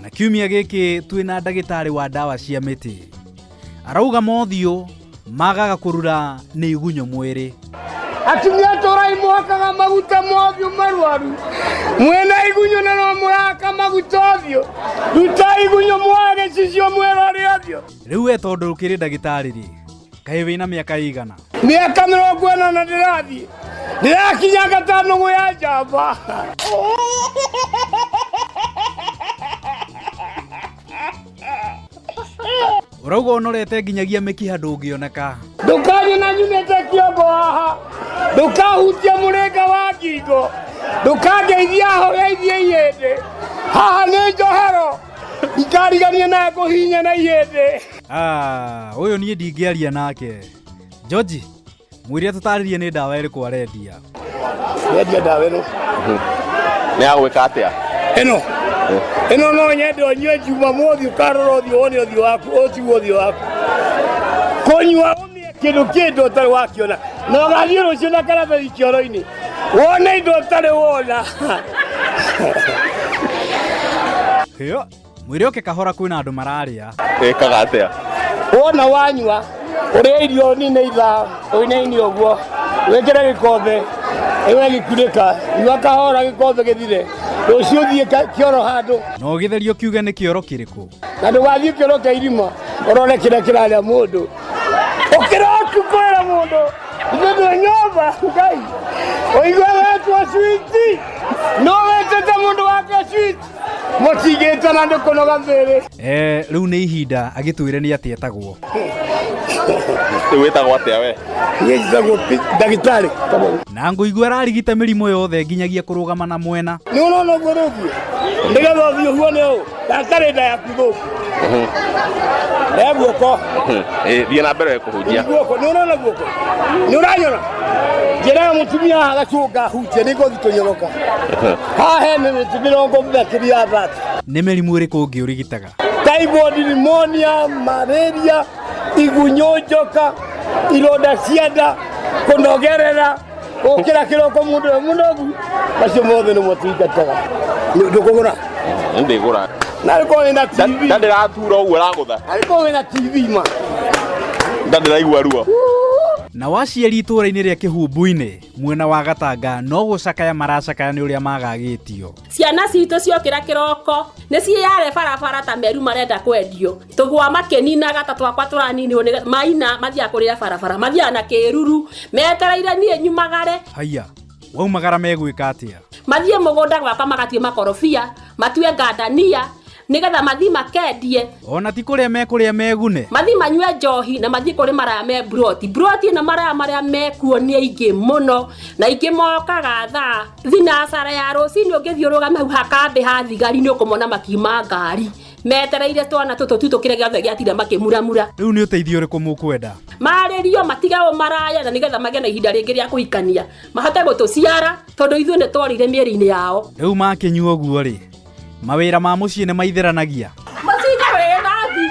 na kiumia gĩkĩ twĩ na ndagĩtarĩ wa ndawa cia mĩtĩ arauga mothiũ magaga kũrura nĩ igunyũ mwĩrĩ atumia tũrai mwakaga maguta mothiũ marwaru mwĩna igunyũ na no mũraka maguta ũthiũ ruta igunyũ mwage cicio mwĩrorĩ ũthiũ rĩu we tondũ ũkĩrĩ ndagĩtarĩ rĩ kaĩ wĩna mĩaka ĩigana mĩaka mĩrongo ĩna na ndĩrathiĩ ndĩrakinya gatano gũ ya njamba ũrauga ũnorete nginyagia mĩkiha ndũngĩoneka ndũkanye na nyumĩte kĩongo haha ndũkahutia mũrĩnga wa ngingo ndũkangeithia horeithie ihĩndĩ haha nĩ njohero ikarigania na ngũhinya na ihĩndĩ Ah, ũyũ niĩ ndingĩaria nake George mwĩre tũtarĩrie nĩ ndawa ĩrĩkũ arendia Nĩendia ndawa ĩno. nä agwä atä a Ĩno. Ĩno no nyende ũnyue njuma mũthĩ ũkarora ũthiũ wone ũthiũ waku ũtigwo ũthiũ waku. Kũnyua ũmĩe kĩndũ kĩndũ ũtarĩ wakĩona. Na ũgathiĩ rũciũ na karatathi kĩoro-inĩ. Wone indo ũtarĩ wona. Hĩo. mwĩre oke kahora kwĩna andũ mararĩa ĩkaga atĩa wona wanyua ũrĩa irio nini itha ũinaini ũguo wĩkĩre gĩkombe ĩwe gĩkunĩka nyua kahora gĩkombe gĩthire rũciũ thiĩ ka- kĩoro handũ na ũgĩtherio kiuge nĩ kĩoro kĩrĩkũ na ndũgathiĩ kĩoro kĩa irima ũrore kĩrĩa kĩrarĩa mũndũ ũkĩra ũtukũrĩra mũndũ ithuĩ twĩ nyũmba ngai ũigua wetwo switi no wetete mũndũ wake switi Mũtigĩte na nĩ kũnoga thĩrĩ. Eh, rĩu nĩ ihinda agĩtwĩre nĩ atĩa etagwo. Rĩu wĩtagwo atĩa we? Niĩ njĩtagwo Pi- ndagĩtarĩ. Na ngũigua ararigita mĩrimũ yothe nginyagia kũrũgama na mwena. Nĩ ũrona ũguo rĩu? Nĩgetha ũthiĩ ũhuone ũũ. Ndagĩtarĩ nda yaku. rĩa guoko Eh, thiĩ na mbere kũhunjia guoko nä å rona guoko nä å ranyona njä ra må tumia haha gacånga hunjia nä ngothi tå nyoroka haha he mä mä tä mä rongo makä ria thati nĩ mĩrimũ ĩrĩkũ ũngĩ ũrigitaga typhoid pneumonia malaria igunyå njoka ironda cia nda kå nogerera gukira kiroko mundu we munogu acio mothe nä mwatungataga ndå kå gå ra ndä gå ra na rä korwo wä na tv ndä ratura å guo ragå tha na rä korwo wä na tv ma ndandä raigua ruo na waciari itũũra-inĩ rĩa kĩhumbu-inĩ mwena wa gatanga no gũcakaya maracakaya nĩ ũrĩa magagĩtio ciana citũ ciokĩra kĩroko nĩ ciĩyare barabara ta meru marenda kwendio tũgwa makĩninaga ta twakwa tũraninirwo nĩ maina mathiaga kũrĩa barabara mathiaga na kĩruru metereire niĩ nyumagare haiya waumagara megwĩka atĩa mathiĩ mũgũnda gwakwa magatue makorobia matue ngandania nĩgetha mathiĩ makendie ona ti kũrĩa mekũrĩa megune mathiĩ manyue njohi na mathiĩ kũrĩ maraya me mburoti mburoti na maraya marĩa mekuo nĩ aingĩ mũno na aingĩ mokaga thaa thinacara ya rũcinĩ ũngĩthiũrũrũka hau hakambĩ ha thigari nĩ ũkũmona makiuma ngari metereire twana tũtũ tu tũkĩre gĩothe gĩatira makĩmuramura rä u nä å teithio å rä kå må kwenda marĩrio matigao maraya na nĩgetha magĩe na ihinda rĩngĩ rĩa kũhikania mahote gũtũciara tondũ ithuĩ nĩ twarire mĩĩrĩ-inĩ yao rä u makä nyua å guo rä mawä ra ma må ciä nä maitheranagia mũcinga wĩ thambi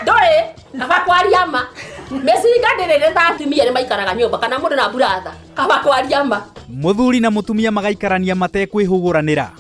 ndũrĩ kaba kwaria ma mĩcinga ndĩrĩ nĩ thambi mia nĩ maikaraga nyũmba kana mũndũ na mburatha kaba kwaria ma må thuri na må tumia magaikarania matekwä hå gå ranä ra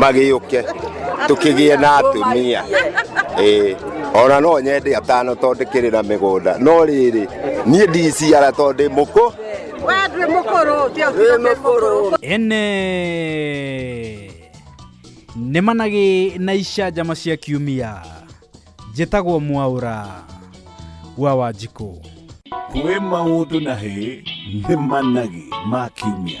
magĩũke tũkĩgĩe na atumia ĩĩ ona no nyende atano tondũ ndĩkĩrĩ na mĩgũnda no rĩrĩ niĩ ndiciara tondũ ndĩ mũkũ ene nĩ managĩ na icanjama cia kiumia njĩtagwo mwaũra wa wanjikũ kwĩ maũndũ na hĩ nĩ managĩ ma kiumia